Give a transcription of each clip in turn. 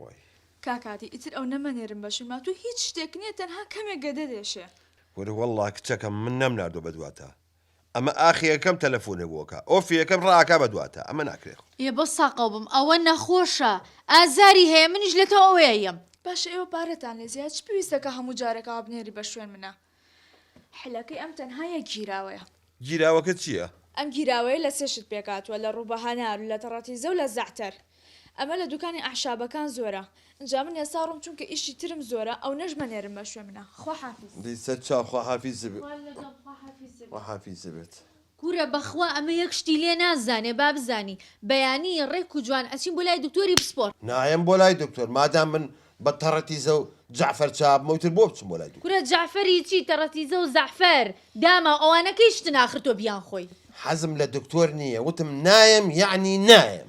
وای. کاک هادی ئیتر ئەو نەمەنێرم بە شورما تۆ هیچ شتێک نیە تەنها کەمێک گەدە دێشێ. کورە وەڵا کچەکەم من نەم ناردوە بە دواتا ئەمە ئاخی ئەکەم تەلەفونێ بۆ ئەکا ئۆفی ئەکەم ڕائەکا بە دواتا ئەمە ناکرێ خۆ. یە بەس ساقەو بم ئەوە نەخۆشە ئازاری هەیە منیش لەتۆ ئەوەیە یەم. باشە ئێوە پارەتان لێ زیایە چ پێویستە کە هەموو جارەکە هەبنێری بە شوێن منە. حلەکەی ئەم تەنها یەک گیراوەیە. گیراوەکە چییە؟ ئەم گیراوەیە لە سێ شت پێکهاتووە لە ڕوبەهەنار و لە تەڕەتیزە و لە زەعتەر ئەمە لە دوکانی ئەعشابەکان زۆرە ئنجا من ئێستا ڕۆم چونکە ئیشی ترم زۆرە ئەونەش مەنێرن بەشوێ منە خواحافیز. دەی سەرچاو خواحافیزبێت. خوای لەگەڵ خواحافیزبێت. کورە بەخوا ئەمە یەک شتی لێ نازانێ با بزانی بەیانی ڕێک و جوان ئەچین بۆ لای دکتۆری پسپۆر. نایەم بۆ لای دکتۆر مادام من بە تەڕەتیزە و جەعفەر چابمە ئیتر بۆ بچم بۆ لای دکتۆر. کورە جەعفەر ی چی تەڕەتیزە و زەعفەر داماو ئەوانە کەی شتن ئاخر تۆ بیان خۆی. حەزم لە دکتۆر نیە وتم نایەم یەعنی نایەم.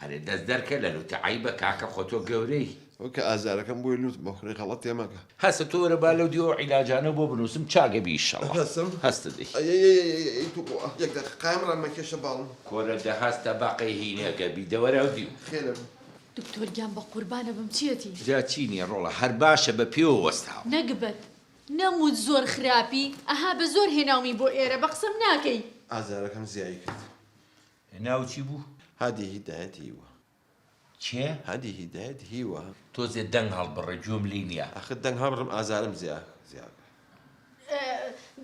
ئەرێ دەست دەرکە لە لوت عەیبە کاکە خۆ تۆ گەورەی. ئەو کە ئازارەکەم بۆی لوت بخورێ غەڵەت تێ مەکە. هەستە تۆ وەرە با لەو دیوە ئەو عیلاجانە بۆ بنوسم چاک ئەبی ئیشەڵا هەستم هەستە دەی. ئەیەیەیەیەیەی توخوا یەک دەقە قایم ڕان مەکێشە باڵم. کورە دە هەستە بەقەی هینەکە بی دە وەرە ئەو دیو. خێرە بم. دکتۆر گیان بە قوربانە بم چیەتی. جا چی نیە ڕۆڵە هەر باشە بە پێوە وەستاوە. نەگبەت نەموت زۆر خراپی ئەها بە زۆر هێناومی بۆ ئێرە بە قسەم ناکەی. ئازارەکەم زیایی کرد. ناو چی بوو؟ هادی هیدایەت هیوا. کێ؟ هادی هیدایەت هیوا. تۆزێ دەنگ هەڵبڕە گوێم لێی نیە. ئاخر دەنگ هەڵبڕم ئازارم زیاد.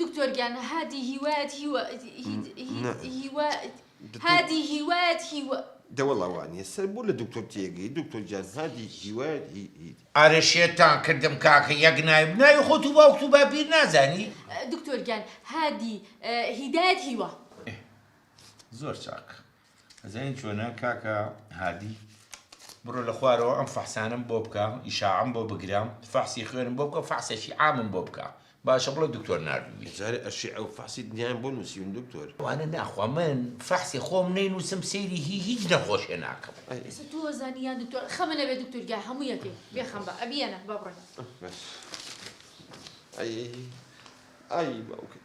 دکتۆر گیان هادی هیوایەت هیوا هیوا هادی هیوایەت هیوا. دە وەڵا وانیە سەر بۆ لە دکتۆر تێگەی دکتۆر گیان هادی هیوایەت هی. ئەرێ شێتان کردم کاکە یەک ناوی ناوی خۆت و باوکت و باپیر نازانی؟ دکتۆر گیان هادی هیدایەت هیوا. زۆر چاک ئەزانین چۆنە کاکە هادی بڕۆ لە خوارەوە ئەم فەحسانم بۆ بکە ئیشاعم بۆ بگرام فەحسی خوێنم بۆ بکە فەحسێکی عامم بۆ بکە باشە بڵێ دکتۆر ناردووی جارێ ئەشی ئەو فەحسی دنیایم بۆ نووسیون دکتۆر وانە ناخوا من فەحسی خۆم نەینووسم سەیری هی هیچ نەخۆشێ ناکەم ئێستا تۆ زانی یان دکتۆر خەمە نەبێ دکتۆر گیا هەموو یەکێ بێ خەم بە ئەبیەنە با بڕۆین ئەی ئەی باوکت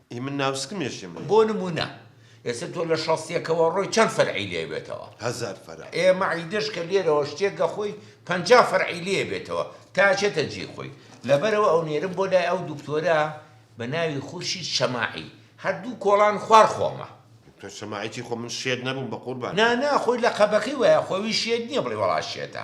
ئی من ناو سکمێشیم لێ. بۆ نموونە ئێستا تۆ لە شەست یەکەوە ڕۆی چەند فەرعی لێ بێتەوە؟ هەزار فەرع. ئێ مەعیدەش کە لێرەوە شتێک گەخۆی پەنجا فەرعی لێ بێتەوە تا ئەچێتە جێی خۆی. لەبەرئەوە ئەونێرم بۆ لای ئەو دوکتۆرە بە ناوی خورشید شەماعی. هەر دوو کۆڵان خوار خۆمە. دکتۆر شەماعی چی خۆ من شێت نەبووم بەقوربان. نا نا خۆی لەقەبەکەی وایە خۆیی شێت نیە بڵێی وەڵا شێتە.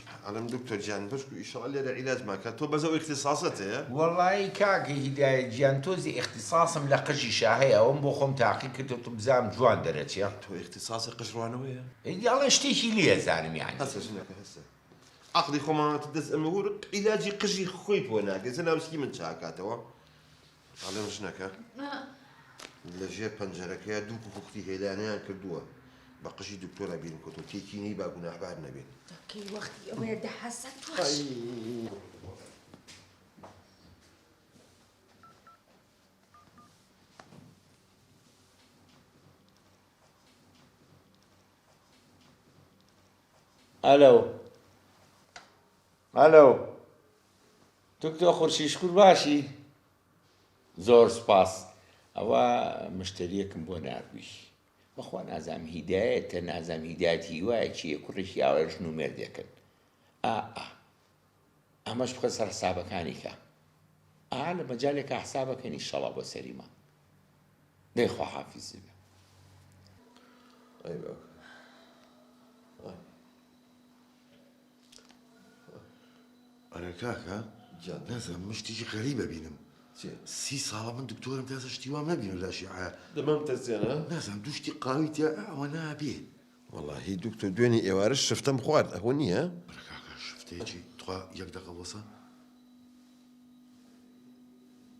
ئەڵێم دکتۆر گیان بەشکو ئیشەڵا لێرە عیلاجمان کە تۆ بەس ئەو ئیختیساسەت هەیە؟ وەڵایی کاک هیدایەت گیان تۆزێ ئیختیساسم لە قژیشا هەیە ئەوەم بۆ خۆم تاقی کردۆتە بزانم جوان دەرەچێ. تۆ ئیختیساسی قژ ڕوانەوەیە؟ ئەڵێن شتێکی لێ ئەزانم یانی. هەسە ژنەکە هەسە عەقڵی خۆمانەوەتە دەست ئەمە هور عیلاجی قژی خۆی بۆ ناکرێ جەنابت هی من چاکاتەوە. ئەڵێن ژنەکە لە ژێر پەنجەرەکەیا دوو کوکوختی هێلانەیان کردووە بە قژی دکتۆرە بیرم کەوتو تێکی نەی با گوناحبار نەبێت کەی وەختی ئەوەیە دە حەسە تۆش ئەلۆ ئەلۆ دکتۆ خورشید شکور باشی؟ زۆر سپاس ئەوە مشتریەکم بۆ ناردووی بەخوا نازام هیدایەتە نازام هیدایەت هیوایە چیە کوڕێکی ئاوای ژن و مێردێکن ئا ئا ئەمەش بخە سەر حسابەکانی کە ئا لە مەجالێکە حسابەکەنی شەڵا بۆ سەریمان دەی خواحافیزی بێ ئەرێ کاکە جان نازم من شتێکی غەریبە بینم سی ساڵە من دکتۆرم تازە شتی وام نبینم لە شیعە دەمام تەزیێنە نازم دوو شتی قاوی تیا ئەوە نابێ وەڵاهی دکتۆر دوێنی ئێوارە شفتەم خوارد ئەهۆ نییە کاکە شفتێکی تخوا یەک دەقە وەسە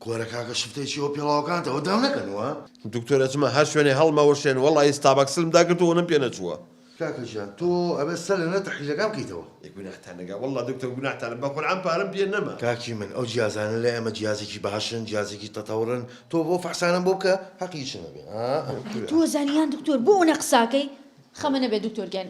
کورە کاکە شفتەی چیەوە پێڵاوەکانتەوە داو نەکەنوە. دکتۆر ئەچمە هەر شوێنێ هەڵمەوەشێن وەڵایی ستابەکسلم داگرت و ونم پێ نەچووە. کاکە گیان تۆ ئەبێت سەر لەنە تەحلیلەکان بکەیتەوە. ئێ گوناحتان نەگا وەڵا دکتۆر گوناحتانە بە قورعان پارەم پێ نەما. کاکی من ئەو جیازانە لای ئەمە جیازێکی باشن جیازێکی تەتەورن تۆ بۆ فەحسانەم بۆ بکە هەقی چنە بێ ئا ئەم کورە. ئەی تۆ زانیان دکتۆر بۆ ئونە قساکەی خەمە نەبێ دکتۆر گیان.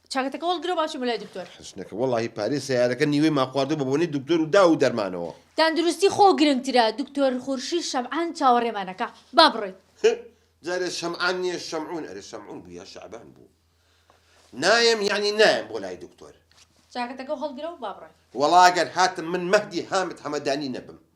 چاکەتەکە وەڵ گرە و با بچم بۆ لای دکتۆر. حەسنەکە وەڵاهی پارەی سەیارەکە نیوەی مان خواردووە بە بۆنەی دکتۆر و داو و دەرمانەوە. تەندروستی خۆ گرنگترە دکتۆر خورشید شەمعان چاوەڕێمان ئەکا با بڕۆین. هه جارێ شەمعان نیە شەمعون ئەرێ شەمعون بوو یا شەعبان بوو نایەم یەعنی نایەم بۆ لای دکتۆر. چاکەتەکە وهەڵگرە و با بڕۆین. وەڵا گەر هاتم من مەهدی هامد حەمەدانی نەبم.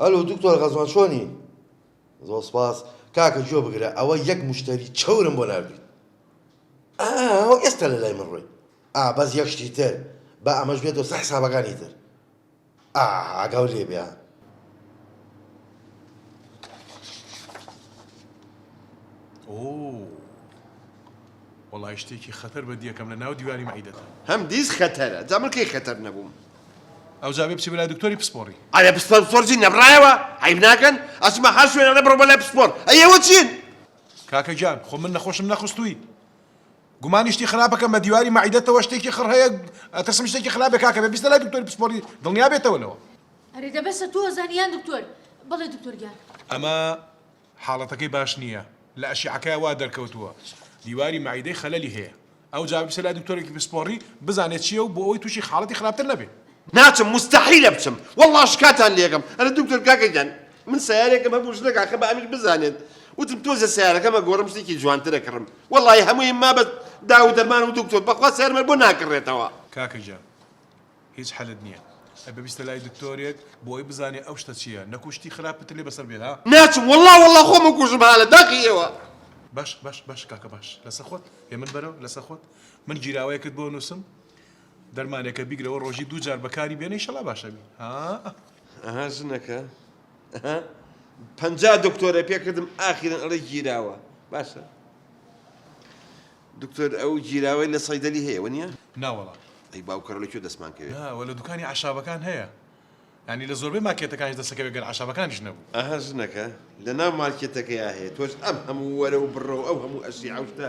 ئەلو دکتۆر غەزوان چۆنی زۆر سپاس کاکە جۆ بگرە ئەوە یەک مشتری چەورم بۆ نردی ئەوە ئێستا لە لای من ڕۆی ئابەز یەک شتی تر بە ئەمەش بێت دۆسە حسابەکانی تر ئاگاو لێ بێ. وەڵای شتێکی خەتەر بەدیەکەم لە ناو دیواری مەعیدەتە هەم دیز خەتەرە جا من کەی خەتەر نەبووم ئەوجا بێ بچی بەلای دکتۆری پسپۆڕی ئەرێ پسپۆر پسپۆرجی نەبڕایەوە عیب ناکەن ئەچمە هەر شوێنە بڕۆ بەلای پسپۆر ئەیەوە چین کاکە گیان خۆ من نەخۆشم نەخستووی گومانی شتی خراپە کەم بەدیواری مەعیدەتەوە شتێکی خڕ هەیە ئەترسم شتێکی خراپ بێ کاکە بێ بیستە لای دکتۆری پسپۆری دڵنیا بێتەوە لەوە ئەرێ دە بەسە تۆ ئەزانی یان دکتۆر بەڵێ دکتۆر گیان ئەمە حاڵەتەکەی باش نییە لە ئەشیعەکەی وا دەرکەوتووە دیواری مەعیدەی خەلەلی هەیە ئەوجا بچە لای دکتۆرێکی پسپۆڕی بزانێت چییە و بۆ ئەوەی تووشی حاڵەتی خراپتر نەبێ ناچم موستەحیلە بچم وەڵا شکاتان لێکەم ئەرە دکتۆر کاکە گیان من سەیارێکم هەبوو ژنەک ئاخە بە ئەمیر بزانێت وتم تۆزێ سەیارەکەم ئەگۆڕم شتێکی جوانترە کڕم وەڵای هەموویم ما بە داو دەرمان و دکتۆر بەخوا سەیارمە بۆ ناکڕێتەوە. کاکە گیان هیچ حەلت نیە ئەبێ بیستە لای دکتۆرێک بۆ ئەوەی بزانێ ئەو شتە چیە نەکو شتی خراپ تر لێ بەسەر بێ ها. ناچم وەڵا وەڵا خۆم ئەکوژم ها لە داخی ئێوە. باش باش باش کاکە باش لەسەر خۆت هێمن بەرەوە لەسەر خۆت من گیراوەیەکت بۆ نوسم. دەرمانێکە بیگرەوە ڕۆژی دوو جار بەکاری بێنە ئیشەڵا باش ئەبی ها. ئەها ژنەکە ئەها پەنجا دکتۆرە پێکردم ئاخیرن ئەڵێ گیراوە باشە دکتۆر ئەو گیراوەی لە سەیدەلی هەیە وە نیە ناوەڵا ئەی باوکەڕ لە کوێ دەستمان کەوێت ناوە لە دوکانی عشابەکان هەیە ینی لە زۆربەی ماکێتەکانی دەسەکەوێت گەر عشابەکانیش نەبوو ئەها ژنەکە لە ناو مارکێتەکەیا هەیە تۆش ئەم هەموو وەرە و بڕە و ئەو هەموو ئەشی عوشتە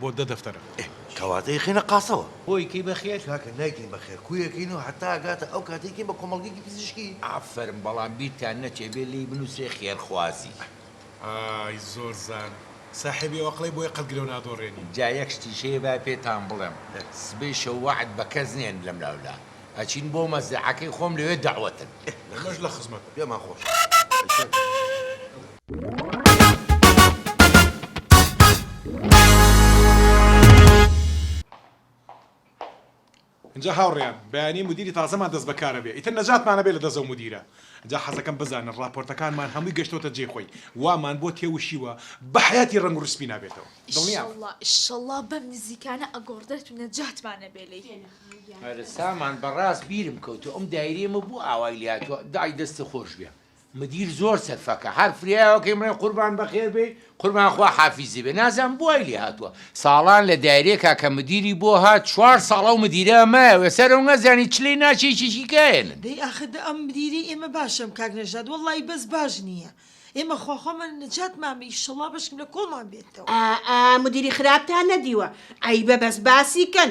بۆ دە دەفتەرە. ئێ کەواتە ئیخەینە قاسەوە. بۆ ئیکەی بە خێر؟ کاکە نایکەین بە خێر کو ئەکەین و هەتا ئەگاتە ئەو کاتە ئیکەین بە کۆمەڵگەیەکی پزیشکی. ئافەرم بەڵام بیرتان نەچێ بێ لێی بنوسرێ خێرخوازی. ئای زۆر زان ساحێبی ئەو ئەقڵەی بۆیە قەت گرەو نادۆڕێنی. جا یەک شتیش هەیە با پێتان بڵێم سبەی شەو وەعد بە کەس نێن لەم لاو لا ئەچین بۆ مەزرەعەکەی خۆم لەوێ دەعوەتن. ئێ لە خزمەتن پێمان خۆشە. ئینجا هاوڕێیان بەیانی مدیری تازەمان دەست بەکارەبێ ئیتر نەجاتمانەبێ لە دەزەو مدیرە ئینجا حەزەکەم بزانن ڕاپۆرتەکانمان هەمووی گەشتۆتە جێ خۆی وامان بۆ تێوشیوە بە حەیاتی ڕەنگ ڕسپی نابێتەوە دڵنیابە. ئیشەڵا ئیشەڵا بەم نزیکانە ئەگۆڕدرێت و نەجاتمانەبێ لێی. سامان بەڕاست بیرم کەوتوە ئەم دایرەیەمە بۆ ئاوای لێهاتوە دەعی دەست خۆشبێ. مدیر زۆر سەرفەکە هەر فریاوەکەی مەڵێ قوربان بەخێر بێی قوربان خوا حافیزی بێ نازانم بۆ وای لێ هاتوە ساڵان لە دایرێکا کە مدیری بۆ هات چوار ساڵ ئەو مدیرە مایە وێسەر ئەو نازانی چ لێی ناچێ چی چی کاێنن. دەی ئاخر دە ئەم مدیرەی ئێمە باشەم کاک نەژاد وەڵڵایی بەس باش نییە ئێمە خواخوامان نەجات مامە ئیشەڵا بەشکم لە کۆڵمان بێتەوە. ئا ئا مدیری خراپتان نەدیوە عەیبە بەس باسی کەن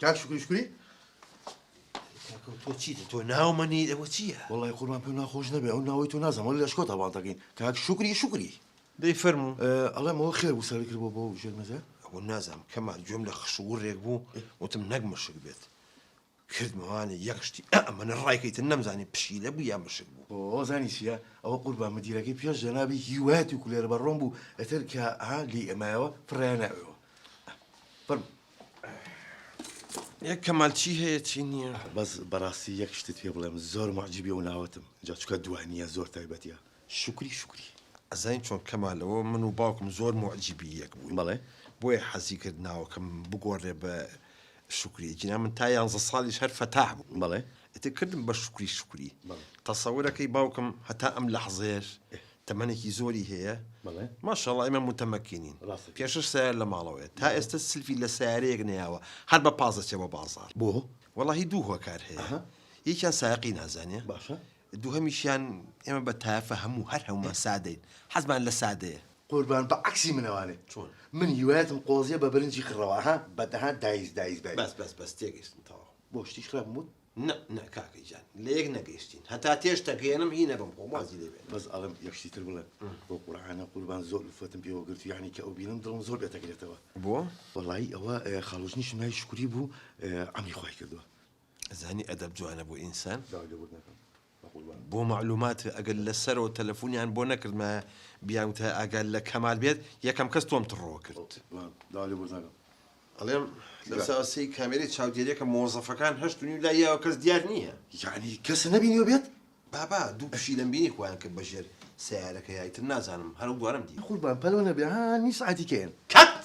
کاک شکری شکری تۆ چیت تۆ ناومەنی ئەوە چییە؟ وڵی قوربان پێ ناخۆش نەبێ ئەو ناوەی تۆ نازەمە لە شکۆ تاواڵتەکەین کاک شکری شکری دەی فەرمو ئەڵێمەوە خێر و سەری کردەوە بۆ ژێرمەزە ئەوە نازانم کەمان گوێم لە خشوو ڕێک بوو وتم نەک مەشک بێت کردمەوانە یەک شتی ئە ئەمەنە ڕایکەی تر نەمزانی پشیلە بوو یان مشک بوو. ئۆۆ زانی چیە ئەوە قوربان مدیرەکەی پێش جەنابی هیوایەتی و کولێرە بەڕۆم بوو ئەتر کە ها لێی ئەمایەوە فڕێیانە ئەوێوە فەرموو. ئێ کەمال چی هەیە چی نییە. بەس بەڕاستی یەک شتت پێ بڵێم زۆر موعجیبی ئەو ناوەتم جا چکە دووانییە زۆر تایبەتیە. شوکری شوکری ئەزانی چۆن کەمال ئەوە من و باوکم زۆر موعجیبی یەک بووین بەڵێ بۆیە حەزی کرد ناوەکەم بگۆڕێ بە شوکری جینا من تا یانزە ساڵیش هەر فەتاح بووم بەڵێ ئیتر کردم بە شوکری شوکری بەڵێ تەسەورەکەی باوکم هەتا ئەم لەحزەیەش تەمەنێکی زۆری هەیە بەڵێ ماشاءاللە ئێمە متەمەکینین ڕاستە کەی پێشتر سەیارە لە ماڵەوەیە تا بەڵێ ئێستا سلفی لە سەیارەیەک نەیاوە هەر بە پاس دەچێ بۆ بازاڕ بۆ وەڵاهی دوو هۆکار هەیە ئەها یەکیان سایەقی نازانێ باشە دووهەمیشیان ئێمە بە تایەفە هەموو هەر هەموومان سادەین حەزمان لە سادەیە. قوربان بە عەکسی منەوانێ چۆن من هیوایەتم قۆزیە بە برنجی خڕەوە ها بە دەها دایز دایز بەری. بەس بەس بەس تێگەشتم تەواو. بۆ شتیش خراپم وت؟ نا نا کاکە گیان لە یەک نەگەیشتین هەتا تێش تەگەیەنم هی نەبەم خۆم وازی لێ بێنم. بەس ئەڵێم یەک شتی تر بڵێم بۆ قورعانە قوربان زۆر ئولفەتم پێوە گرت یانی کە ئەو بینم دڵم زۆر پێ تەگرێتەوە. بۆ؟ وەڵایی ئەوە خاڵۆژنیشم ناوی شوکری بوو عەمری خوای کردوە. ئەزانی ئەدەب جوانە بۆ ئینسان. بۆ مەعلوماتت ئەگەر لە سەرەوە تەلەفونیان بۆ نەکردمایە بیان وتایە ئاگات لە کەمال بێت یەکەم کەس تۆم تڕۆ کرد. ئەڵێم لە ساوە سێی کامێرەی چاودێریەکە مۆزەفەکان هەشت و نیو لای یاوە کەس دیار نییە. یەعنی کەس نەبینیوە بێت؟ بابە دوو پشیلەم بینی خۆیان کرد بە ژێر سەیارەکەیا ئیتر نازانم هەر ئەو دوانەم دی. قوربان پەلۆ نەبێ ها نیو سەعاتی کەیەن. کەت!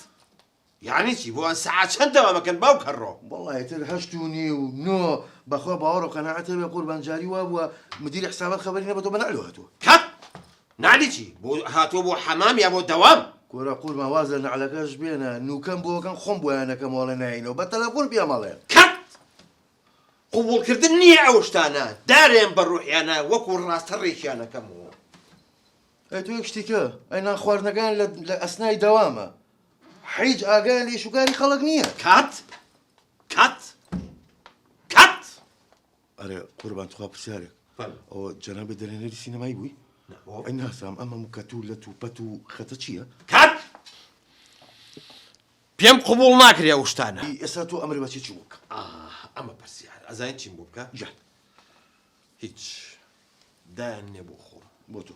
یەعنی چی بۆ سەعات چەند دەوام ئەکەن باوک هەڕۆ. وەڵا ئیتر هەشت و نیو نۆ بەخوا باوەڕو قەناعەت هەبێ قوربان جاری وا بووە مدیری حسابات خەبەری نەبەتۆ بە نەعلو هاتووە. کەپ نەعلی چی بۆ هاتووە بۆ حەمام یا بۆ دەوام. کورە قوربان واز لە نەعلەکەش بێنە نوکەم بۆ ئەکەن خۆم بۆیان ئەکەمەوە ئەڵێن نایەینەوە بە تەلەفۆن پێم ئەڵێن. کەپ قبوڵ کردن نییە ئەو شتانە دارێم بە ڕوحیانە وەکو ڕاستە ڕێکیان ئەکەمەوە. ئەی تۆ یەک شتیکە ئەی نان خواردنەکەیان لە ئەسنای دەوامە هیچ ئاگایان لە ئیشوکاری خەڵک نییە. کات کات کات ئەرێ قوربان تخوا پرسیارێک ئەوە جەنابێ دەرێنەری سینەمایی بووی ئەی ناسام ئەمە مکەت و لە توپەت و خەتە چییە؟ کات پێم قبوڵ ناکرێ ئەو شتانە ئێستا تۆ ئەمر بەچی چوو بکە ئەمە پرسیار ئەزانین چیم بۆ بکە جان هیچ دایان نێ بۆ خۆم بۆ تۆ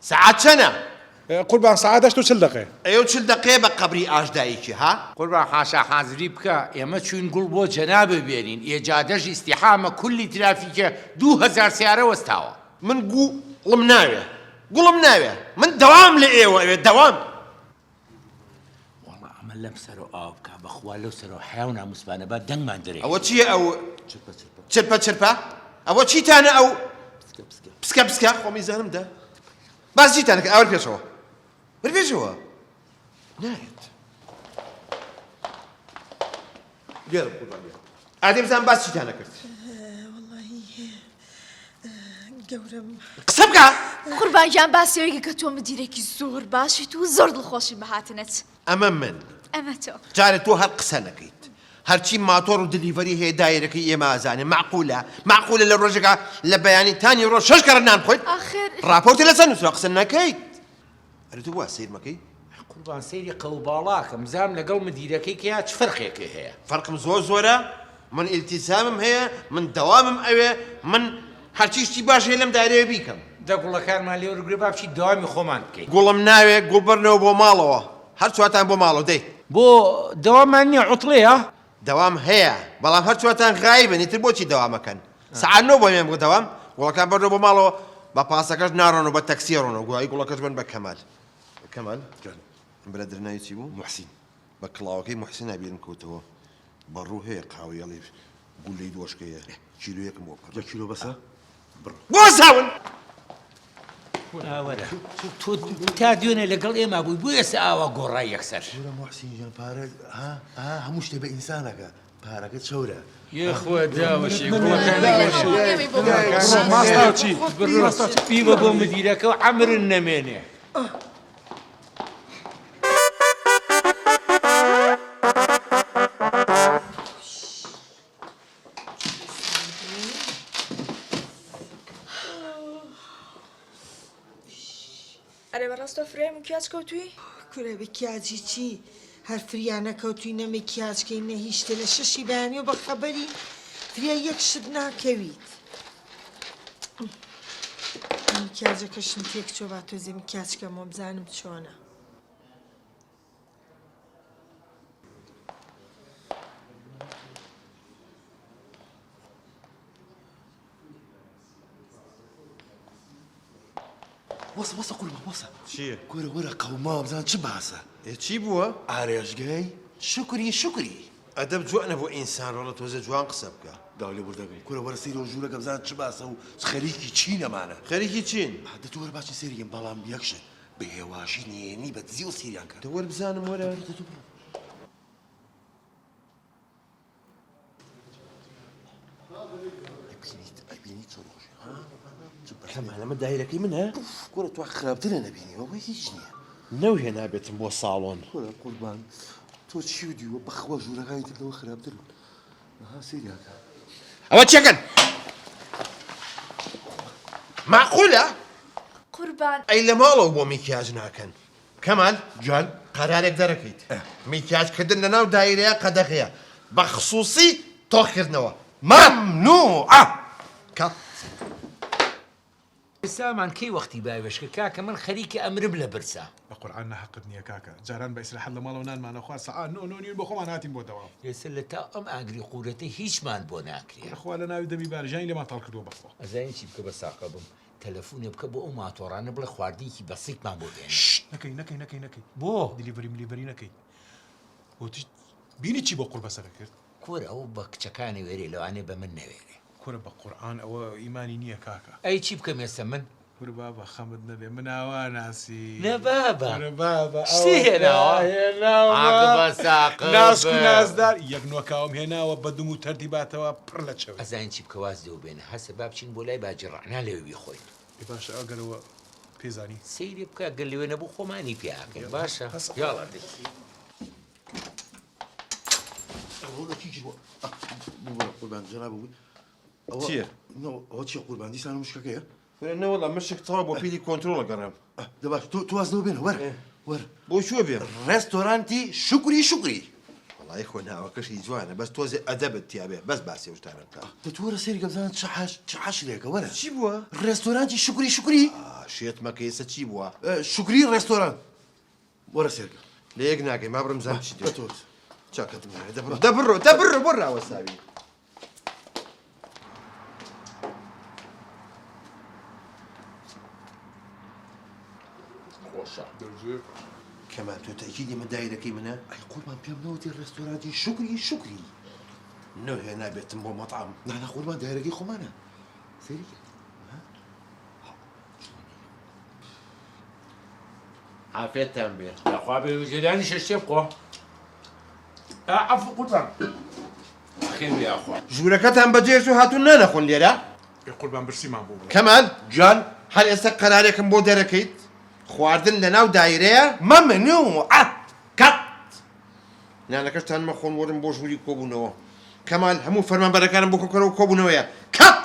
سەعات چەنە؟ قوربان سەعات هەشت و چل دەقەیە. ئەی ئەو چل دەقەیە بە قەبری ئاش دایکی ها؟ قوربان حاشا حازری بکە ئێمە چوین گوڵ بۆ جەنابت بێنین ئێ جادەش ئیستیحامە کولی ترافیکە دوو هەزار سەیارە وەستاوە. من گو ڵم ناوێ گوڵم ناوێ من دەوام لە ئێوە ئەوێ دەوام وەڵا ئەمە لەم سەرۆ ئاو بکە بەخوا لەو سەرۆ حیا و ناموسبانە با دەنگمان درێ ئەوە چییە ئەو چرپە چرپە ئەوە چیتانە ئەو پسکە پسکە خۆمی زانم دە باز چیتان کرد ئەوە پێشەوە بەر پێشەوە نایەت گێرم قوربان گێرم ئادەی بزان باس چیتان نەکرد گەورم قسە بکە قوربان گیان باسیەوەیکە کە تۆ مدیرێکی زۆر باشیت و زۆر دڵخۆشی بەهاتنت ئەمە من ئەمە تۆ جارە تۆ هەر قسە نەکەیت هەرچی ماتۆڕ و دلیڤەری هەیە دایرەکەی ئێمە ئازانێ معقولە معقولە لە ڕۆژەکە لە بەیانی تانی ڕۆژ شەش کەڕ نان خۆیت ڕاپۆرتی لەسەر نووسرا قسە نەکەیت ئەرێ تۆ وا سەیرمە کەی؟ قوربان سەیری قەوباڵاکەم بزانم لەگەڵ مدیرەکەی کیا چ فەرقێکی هەیە. فەرقم زۆر زۆرە، من ئیلتیزامم هەیە، من دەوامم ئەوێ، من هەرچی شتی باش هەیە لەم دایرەیە بیکەم. دە گوڵەکانمان لێوەرگرە با بچین دەوامی خۆمان بکەین. گوڵم ناوێ، گوڵ بەرنەوە بۆ ماڵەوە. هەر چوارتان بۆ ماڵەوە دێین. بۆ دەواممان نییە عوتڵەیە؟ دەوام هەیە بەڵام هەر چوارتان غایبن ئیتر بۆچی دەوام ئەکەن سەعات نۆ بۆ مێم گوت دەوام گوڵەکان بەرنەوە بۆ ماڵەوە بە پاسەکەش ناڕۆن و بە تەکسی ڕۆن و گوایی گوڵەکەش بن بە کەمال کەمال برا درناوی چی بوو محسین بە کڵاوەکەی محسینا بیرم کەوتەوە بەڕوو هەیە قاوەیەڵی گولەی دۆشکەیە کیلویەکم بۆ بکە کیلو بەسە بۆزاون ئاوەرە تۆ تا دوێنێ لەگەڵ ئێمە بووی بۆ ئێستا ئاوا گۆڕای یەکسەر محسینیان پارە هەموو شتێ بە ئینسانەکە پارەکە چەورە یخوا داوەشی پیوە بۆ مدیرەکە و ئەمرن نەمێنێ. ئەرێ بەڕاست تۆ فرای مکیاج کەوتووی؟ کورە مکیاجی چی هەر فریا نەکەوتووی نە مکیاجکەی نە هیچ شتێ لە شەشی بەیانیەوە بە خەبەری فریا یەک شت ناکەویت مکیاجەکەشم تێک چۆ با تۆزێ مکیاجکەمەوە بزانم چۆنە وەسە وەسە قوربە وەسە چییە؟ گۆرە وەرە قەوما بزان چ باسە ئێ چی بووە؟ ئارێژگەی شکری شکری ئەدەب جوان نەبوو ئینسان ڕۆڵە تۆزە جوان قسە بکە داو لێ بردەگەم کورە وەرە سەیرە و ژوورەکە بزان چ باسە و خەریکی چینەمانە خەریکی چین؟ دە تۆ وەرە باسی سەیرگەم بەڵام یەک شت بەهێواشی نێێنی بە دزی ئەسیریان کرد. دە وەر بزانم وەرە. ئەبینی چۆن خۆشی کەمالەمە دایرەکەی منە کورە تو خراپترە نەبینیەوە بە هیچ نییە نەو هێنا بێتم بۆ ساڵۆن کورە قوربان تۆ چی و دیوە بەخوا ژوورەکانی تردەوە خراپترن ئەوە چەکەن ماقولە قوربان ئەی لە ماڵەوە بۆ میکیاج ناکەن کەمال جوان قەرارێک دەرەکەیت میکیاجکردن لە ناو دایرەیە قەدەغەیە بە خصوصی تۆخکردنەوە مەمنوعە کات ئیسلامان کەی وەختی باوێشکە کاکە من خەریکە ئەمرم لە برسا. بە قورعان نە هەقت نیە کاکە جاران بە ئیسراحەت لە ماڵەوە نانمان ئەخوارد سەعا نۆ نۆ نیو بە خۆمان هاتین بۆ دەوام. ئێستا لە تا ئەم ئاگری قورەتەی هیچمان بۆ ناکرێ. بەخوا لە ناوی دەمی بارزانی لێمان تاڵ کردوە بەخوا. ئەزانی چی بکە بە ساقە بم تەلەفونێ بکە بۆ ئەو ماتۆڕانە بڵێ خواردنیکی بەسیتمان بۆ بێنن. شت نەکەی نەکەی نەکەی نەکەی بۆ دلیڤری ملیڤری نەکەی وتت بینی چی بۆ قوڕ بەسەرە کرد. کورە ئەو بە کچەکانی وێرێ لەوانەیە بە من نەوێرێ. کورە بە قورعان ئەوە ئیمانی نیە کاکە. ئەی چی بکەم ئێستا من؟ کور بابە خەمت نەبێ من ئاوا ناسی نە بابە کورە بابە شتی هێناوە ئەوەکە هێناوە عاقبە ساقبە ناسک و نازدار یەک نۆکاوم هێناوە بە دم و تەردی باتەوە پڕ لە چەوری. ئەزانی چی بکە واز لێو بێنە هەسە با بچین بۆ لای باجی ڕەعنا لەوێ بیخۆین. ئێ باشە ئەگەر ئەوە پێزانی. سەیری بکە گەر لەوێ نەبوو خۆمانی پێ ئاکەین باشە یاڵا دەی. چی قورباندی سان مشکەکەیە نەوەڵام مشک تەوا بۆ پیری کۆنتترۆڵە گەڕێم دەباش تۆ توازەوە بێن وەر وەر بۆ شوە بێ ڕێستۆرانتی شکری شکری وڵی خۆ ناوەکەشی جوانە بەس تۆزێ ئەدەبت تیاێ بەس باسی شتانە بکە دەتوەرە سری گەزان چاش لێکە وەرە چی بووە ڕێستۆرانتی شکری شکری شێت مەکەیسە چی بووە شکری ڕێستۆران وەرە سێرگە لە یەک ناگەی ما بڕم زان چی دەتوت چاکەتم نارێ دەبڕۆ دەبڕۆ دەبڕە بۆ راوەساوی خۆشە دەژێت کەمان تۆ تەکیدی من دایرەکەی منە ئەی قوربان پێم نەوتی ڕێستۆرانتی شکری شکری نۆ هێ نابێتم بۆ مەطعام نانە قوربان دایرەکەی خۆمانە سەیری عافێتتان بێ داخوا بێ وزێریانی شەشتێ بخۆ عفو قوربان خێر بێ ئاخوا ژوورەکەتان بەجێش و هاتون نانەخۆن لێرە قوربان برسیمان بۆ بڵێ کەمال جان هەر ئێستا قەرارێکم بۆ دەرەکەیت خواردن لە ناو دایرەیە مەمنوعە کات نانەکەشتان مەخۆن وەرن بۆ ژووری کۆبوونەوە کەمال هەموو فەرمانبەرەکانم بۆ کۆکەرەوە کۆبوونەوەیە کات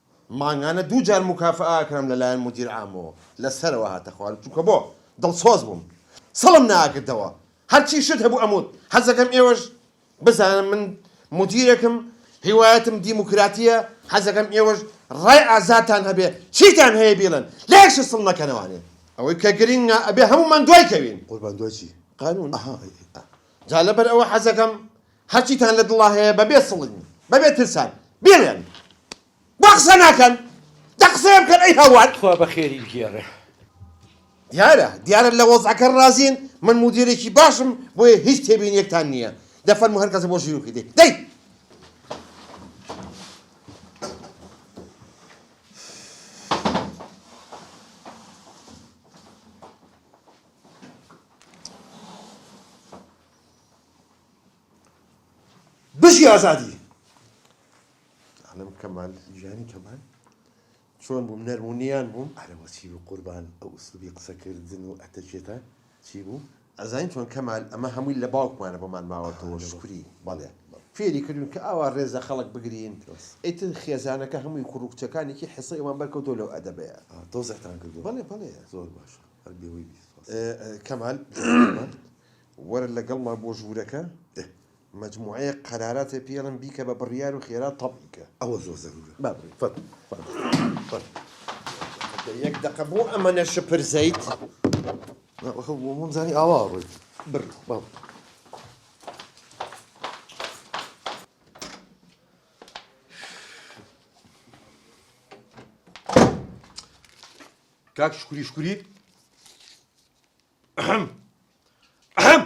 مانگانە دوو جار موکافەئە ئەکرام لە لایەن مودیر عامەوە لە سەرەوە هاتە خوارم چونکە بۆ دڵسۆز بووم سڵم ناکردەوە هەرچی شت هەبوو ئەموت حەزەکەم ئێوەش بزانن من مودیرێکم هیوایەتم دیموکراتیە حەزەکەم ئێوەش ڕای ئازاتان هەبێ چیتان هەیە بیڵێن لە یەک شت سڵ نەکەنەوانێ ئەوەی کە گرینگە ئەبێ هەموومان دوای کەوین. قوربان دوای چی؟ قانون ئەها ئەی ئا. جا لەبەر ئەوە حەزەکەم هەرچیتان لە دڵا هەیە بەبێ سڵین بەبێ ترسان بیڵێن وا قسە ناکەن دە قسەیە بکەن ئەی هاوار خوا بەخێری بگێڕێ. دیارە دیارە لە وەزعەکە ڕازین من مودیرێکی باشم بۆیە هیچ تێبینیەکتان نییە دە فەرموو هەر کەسە بۆ ژیرۆکی دێ دەی بژی ئازادی عالم کەمال ژیانی کەمال چۆن بووم نەرمونیان بووم ئەرەوە چی بوو قوربان ئەو ئوسلوبی قسەکردن و ئەتەکێتە چی بوو ئەزانین چۆن کەمال ئەمە هەمووی لە باوکمانە بۆمان ماوەتەوە شکری بەڵێ فێری کردوین کە ئاوا ڕێزە خەڵک بگرین ئیتر خێزانەکە هەمووی کوڕ و کچەکانێکی حیسەی ئەوان بەرکەوتۆ لەو ئەدەبەیە تۆزەتان کردو بەڵێ بەڵێ زۆر باشە هەر بێوەی بیت کەمال وەرە لەگەڵمان بۆ ژوورەکە ئه مەجموعەیە قەراراتێ پێڵم بیکە بە بڕیار و خێرا تەبعی کە ئەوە زۆر زەرورە با بڕی فەرموو فەرموو فەرموو یەک دەقە بۆ ئەمەنە شپر زەیت وەخە بۆ مۆم زانی ئاوا ڕۆیت بڕ با کاک شکوری شکوری ئەحم ئەحم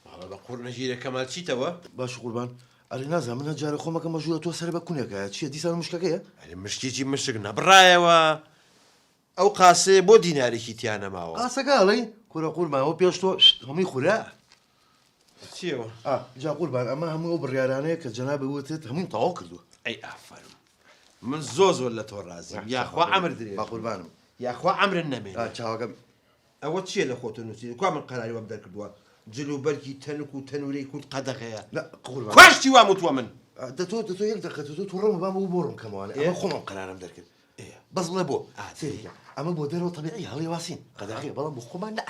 ماڵە بە قوڕ نەژیرە کەمال چیتەوە باش قوربان ئەرێ نازە منە جارە خۆمەکە مەژوورە تۆ سەر بە کونێکە چیە دیسان مشکەکەیە ئەرێ مشکێکی مشک نەبڕایەوە ئەو قاسەیە بۆ دینارێکی تیا نەماوە قاسەکە ئەڵێی کورە قورماوە پێش تۆ هەمووی خورە چیەوە ئا جا قوربان ئەمە هەموو ئەو بڕیارانەیە کە جەنابی وتت هەمووم تەواو کردووە ئەی ئافەرم من زۆر زۆر لە تۆ ڕازیم یاخوا ئەمر درێ با قوربانم یاخوا ئەمرن نەمێ چاوەکەم ئەوە چییە لە خۆتە نووسین کوا من قەراری وەم دەرکردووە جل و بەرگی تەنک و تەنورەی کورد قەدەغەیە خوشتی وام وتووە من دە تۆ دە تۆ یەک دەقە تۆ تۆ ڕەوم بام بۆ ڕوون کەمەوانە ئێ خۆم ئەم قەرارم دەرکرد بەس بڵێ بۆ سێریکە ئەمە بۆ دەرەوە تەبیعی هەڵی واسین قەدەغەیە بەڵام بۆ خۆمان نەئ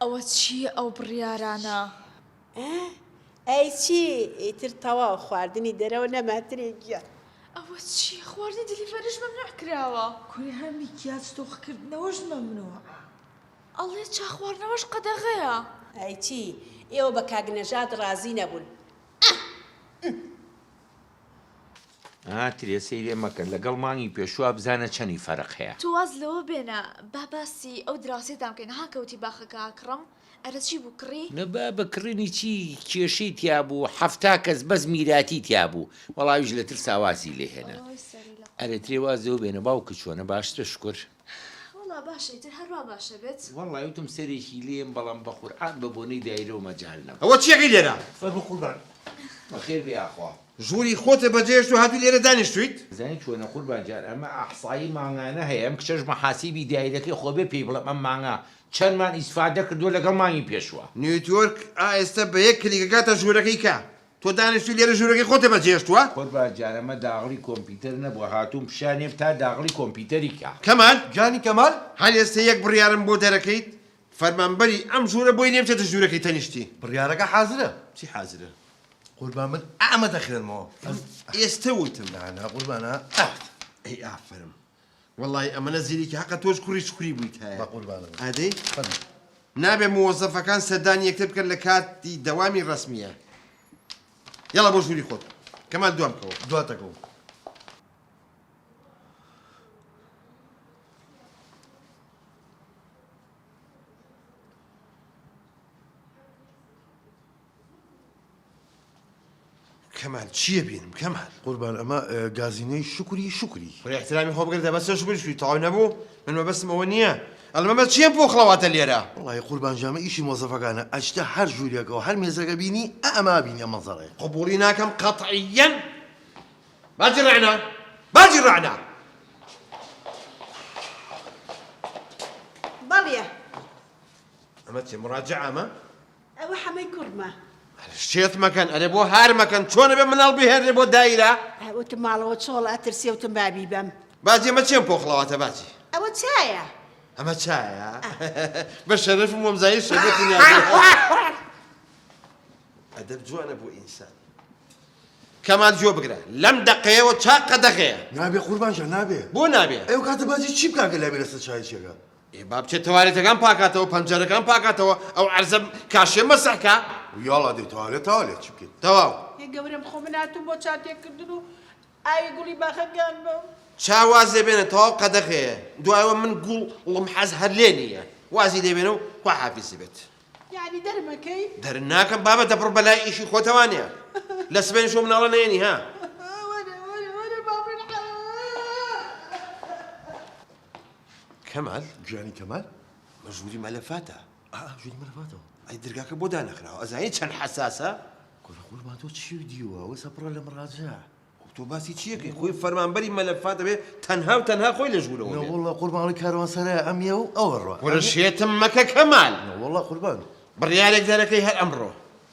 ئەوە چییە ئەو بڕیارانە؟ ئەی چی ئیتر تەواو خواردنی دەرەوە نەماترێ گیان ئەوە چی خواردنی دیلیڤەریش مەمنوع کراوە کوری هەر میکیاج تۆخکردنەوەش مەمنوع ئەڵێ چا خواردنەوەش قەدەغەیە ئەی چی ئێوە بە کاک نەژاد ڕازی نەبوون ئا ترێ سەیرێ مەکە لەگەڵ مانگی پێشووا بزانە چەنی فەرق هەیە. تۆ واز لەوە بێنە با باسی ئەو دراوسێتان بکەین ها کەوتی باخەکە کڕم ئەرە چی بوو کڕی؟ نە بابە کڕینی چی کێشەی تیا بوو حەفتا کەس بەس میراتی تیا بوو وەڵا ئەویش لە ترسا وازی لێ هێنا ئەرێ ترێ واز لەوە بێنە باوکت چۆنە باشترە شوکر؟ وەڵا باشە ئیتر هەر وا باشە بێت. وەڵای وتم سەرێکی لێم بەڵام بەقورعان بە بۆنەی دایرەوە مەجال نەبوو. ئەوە چیەکەی لێرە؟ فەرموو قوربان. بەخێر بێی یاخوا. ژووری خۆتت بەجێهێشت و هاتووی لێرە دانیشتوویت؟ ئەزانی چۆنە قوربان گیان ئەمە ئەحسایی مانگانە هەیە ئەم کچەش مەحاسیبی دایرەکەی خۆ بێ پێی بڵێم ئەم مانگە چەندمان ئیسفادە کردووە لەگەڵ مانگی پێشووە. نیوتیۆرک ئا ئێستە بە یەک کلیک ئەگاتە ژوورەکەی کە. تۆ دانیشتوی لێرە ژورەکەی خۆتە بە جێهێشتوە. قوربان جان ئەمە داغڵی کۆمپیتەر نەبوە هاتوم پیشانیەم تا داغڵی کۆمپیتەری کا. کەمال جانی کەمال. هەر ئێستە یەک بڕیارم بۆ دەرەکەیت فەرمانبەری ئەم ژورە بۆی لێ بچێتە ژورەکەی تەنیشتی. بڕیارەکە حازرە. چی حازرە قوربان من ئەمە دەخوێنمەوە ئەز. ئێستە وتم. نا نا قوربان ئا ئەوت. ئەی ئافەرم. وەڵاهی ئەمەنە زیرەکی حەقە تۆش کوڕی چکوری بوویت هەیە بەقوربانم ئادەی خەمی نابێ موەزەفەکان سەردانی یەکتر بکەن لە کاتی دەوامی ڕسمیە یاڵا بۆ ژووری خۆت کەمال دوام بکەوە دواتەکەوە کەمال چیە بینم کەمال. قوربان ئەمە گازینۆی شوکری شوکری. خۆی احترامی خۆ بگرە دەبەسە شوکری شوی تەواو نەبوو من مەبەستم ئەوە نییە ئەڵمە بە چیە پۆخڵەواتە لێرە وڵی قوربان ژامە ئیشی مۆزەفەکانە ئەچتە هەر ژوورێکەوە هەر مێزەکە بینی ئەما بینی ئەم مەنزەرەیە قبوڵی ناکەم قەتعیەن باجی ڕعنا باجی ڕعنا بەڵێ ئەمە چێ مڕاجعامە ئەوە حەمەی کوڕمە. شێت مەکەن ئەرێ بۆ هار مەکەن چۆنە بێ مناڵ بهێنێ بۆ دایرە وتم ماڵەوە چۆڵە ئەترسێ وتم بابی بەم باجی ئەمە چێم پۆخڵەواتە باجی ئەوە چایە ئەمە چایە بە شەرف مۆمزایی شەرەتی ئەدەب جوانە بۆ ئینسان کەمان جۆ بگرە لەم دەقەیەوە چاق قەدەغەیە نابێ قوربانجا نابێ بۆ نابێ ئەو کاتە باجی چی بکاگە لابێ لەسەر چای چێگە ئێ با بچێ تەوالێتەکان پاکاتەوە پەنجەرەکان پاکاتەوە ئەو عەرزە کاشێ مەسح کا ویاڵا دێ تەوالێت تەوالێت چی بکەین تەواو. ئێ گەورەم خۆ من هاتووم بۆ چا تێکردن و ئاوی گوڵی باخەکان بەم. چا واز لێ بێنە تەواو قەدەغەیە دوای ئەوە من گوڵ ڵم حەز هەر لێ نییە وازی لێ بێنە و خوا حافیزی بێت. یەعنی دەرم ئەکەی. دەرت ناکەم بابە دەبڕ بە لای ئیشی خۆتەوانە لە سبەینێ شۆ مناڵە نەیەنی ها. کەمال گیانی کەمال بە ژووری مەلەفاتە. ئا ژووری مەلەفاتەوە. ئەی درگاکە بۆ دانەخراوە ئەزانی چەند حەساسە. کورە قوربان تۆ چیو دیوە ئەوەسە پڕە لە مڕاجەع. خۆ تۆ باسی چی ئەکەی خۆی فەرمانبەری مەلەفات دەبێ تەنها و تەنها خۆی لە ژوورەوە بێ. نەوەڵا قوربان ئەڵێ کاروانسەرای ئەمیە و ئەوە ڕۆ. کورە شێتم مەکە کەمال. نەوەڵا قوربان. بڕیارێک دەرەکەی هەر ئەمڕۆ.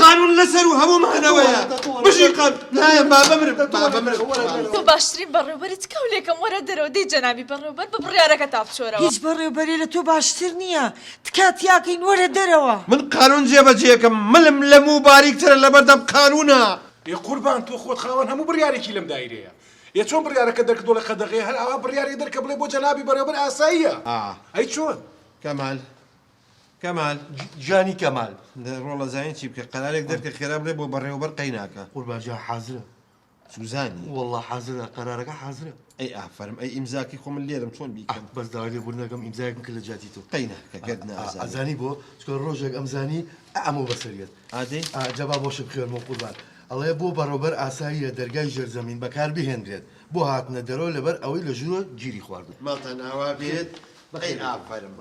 قانون لەسەرو هەموو مانەوەیە بژی قان نایەم با بمرم با بمرم تۆ باشترین بەڕێوبەری تکا و لێکەم وەرە دەرەوە دەی جەنابی بەڕێوبەر بە بڕیارەکە تا بچۆرەوە. هیچ بەڕێوبەرێ لە تۆ باشتر نییە تکا تیاکەین وەرە دەرەوە. من قانون جێبەجێکەم ملم لە موو باریکترە لەبەردەم قانونا. ئێ قوربان تۆ خۆت خاوەن هەموو بڕیارێکی لەم دایرەیە ئێ چۆن بڕیارەکە دەرکردوە لە قەدەغەیە هەر ئاوا بڕیارێ دەرکە بڵێ بۆ جەنابی بەڕێوبەر ئاساییە ئەی چۆن؟ کەمال کەمال جانی کەمال لە ڕۆڵە زانین چی بکە قەرارێک دەرکە خێرا بڵێ بۆ بەڕێوەبەر قەیناکە قوربان جا حازرە سوزانی والله حازرە قەرارەکە حازرە ئەی ئافەرم ئەی ئیمزاکی خۆ من لێرم چۆن بیکەم بەس داوای لێ بوردنەکەم ئیمزایەکم کە لە جیاتی تۆ قەیناکە گەت نازانی ئەزانی بۆ چکە ڕۆژێک ئەمزانی ئەمە بەسەریت ئادەی جەبا بۆشە بخێرمەوە قوربان ئەڵەیە بۆ بەڕۆبەر ئاساییە دەرگای ژێرزەمین بەکار بهێنرێت بۆ هاتنە دەرەوە لەبەر ئەوەی لە ژوورە گیری خواردووە ماڵتان ئاوا بێت ئەی ئافەرم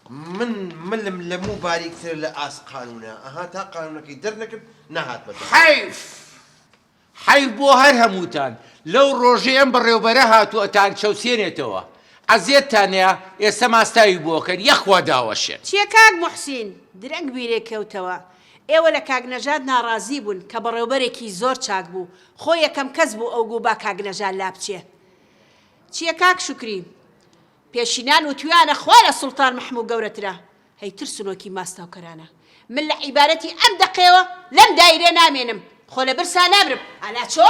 من ملم لە موو باریکترە لە ئاست قانوونە ئەها تا قانوونەکەی دەرنەکرد نەهات بە دەنگ. حەیف حەیف بۆ هەر هەمووتان لەو ڕۆژەی ئەم بەڕێوبەرە هاتوو ئەتان چەوسێنێتەوە عەزێتتان نەیا ئێستا ماستاوی بۆ ئەکەن یەخوا داوەشێن. چیە کاک موحسین درەنگ بیرێ کەوتەوە ئێوە لە کاک نەژاد ناڕازی بوون کە بەڕێوبەرێکی زۆر چاک بوو خۆ یەکەم کەس بوو ئەو گوو با کاک نەژاد لابچێ چیە کاک شوکری پێشینان وتویانە خوا لە سوڵتان محموو گەورەترە هەی ترسنۆکی ماستاوکەرانە من لە عیبارەتی ئەم دەقەیەوە لەم دایرە نامێنم خۆ لە برسا نامرم ئالا چۆ